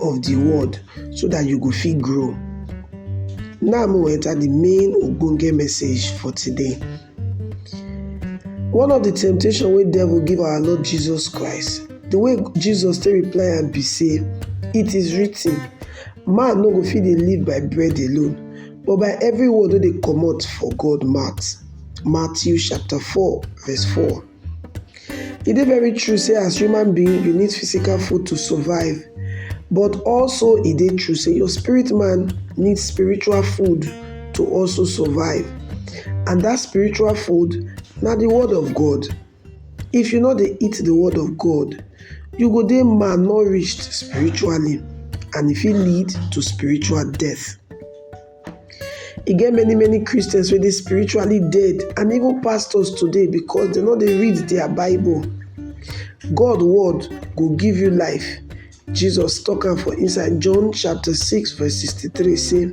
of di world so dat you go fit grow. Now make we enter di main ogbonge message for today. One of di temptation wey devil give our Lord Jesus Christ, di way Jesus take reply am be sey it is written man no go fit dey live by bread alone but by every word wey dey comot for God mouth Matthew chapter four verse four. E dey very true sey as human being you need physical food to survive but also e dey true sey your spirit man need spiritual food to also survive and dat spiritual food na de word of God. If you no dey eat de word of God you go dey malnourished spiritually and e fit lead to spiritual death. E get many many Christians wey dey spiritually dead and even pastors today because dem no dey read their bible. God word go give you life, Jesus talk am for inside John chapter six verse sixty three sey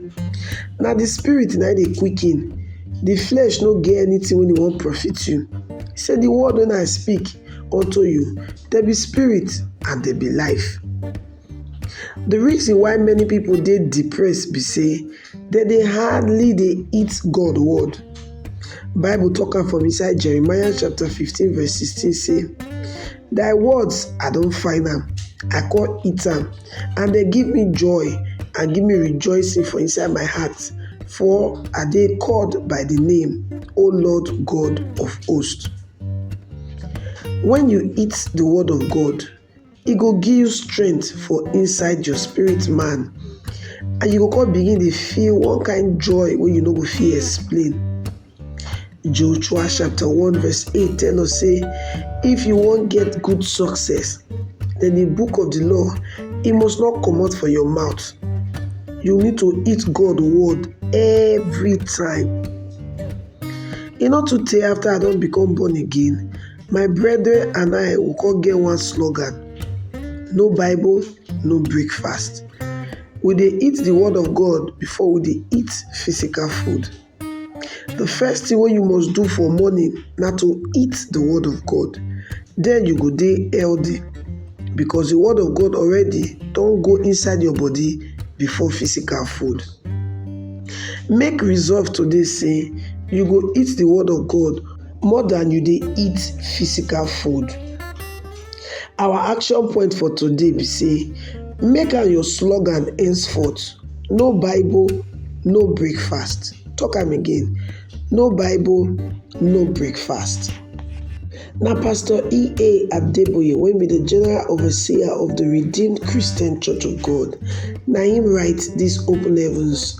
na de spirit na im dey quicken de flesh no get anything wey e wan profit you. He say de word wey I speak unto you dem be spirit and dem be life. The reason why many people dey depressed be say dem dey hardly dey eat God word. Bible talk am for inside Jeremiah chapter fifteen verse sixteen say, Thy words I don find am, I come eat am, and dem give me joy and give me rejoicing for inside my heart, for I dey called by the name, O Lord God of hosts. When you eat the word of God, e go give you strength for inside your spirit man and you go come begin dey feel one kind joy wey you no go fit explain. Joshua chapter one verse eight tell us say if you wan get good success then the book of the law e must not comot for your mouth you need to eat God word every time. E no too tey after I don become born again My brethren and I we come get one slogan, no Bible, no breakfast. We dey eat the word of God before we dey eat physical food. The first thing wey you must do for morning na to eat the word of God, then you go dey healthy because the word of God already don go inside your body before physical food. Make resolve today sey you go eat the word of God more than you dey eat physical food. Our action point for today be sey make am your slogan henceforth no bible no breakfast talk am again no bible no breakfast. Na pastor EA Adeboye wey be the general overseer of the redeemed Christian church of God na im write dis open heavens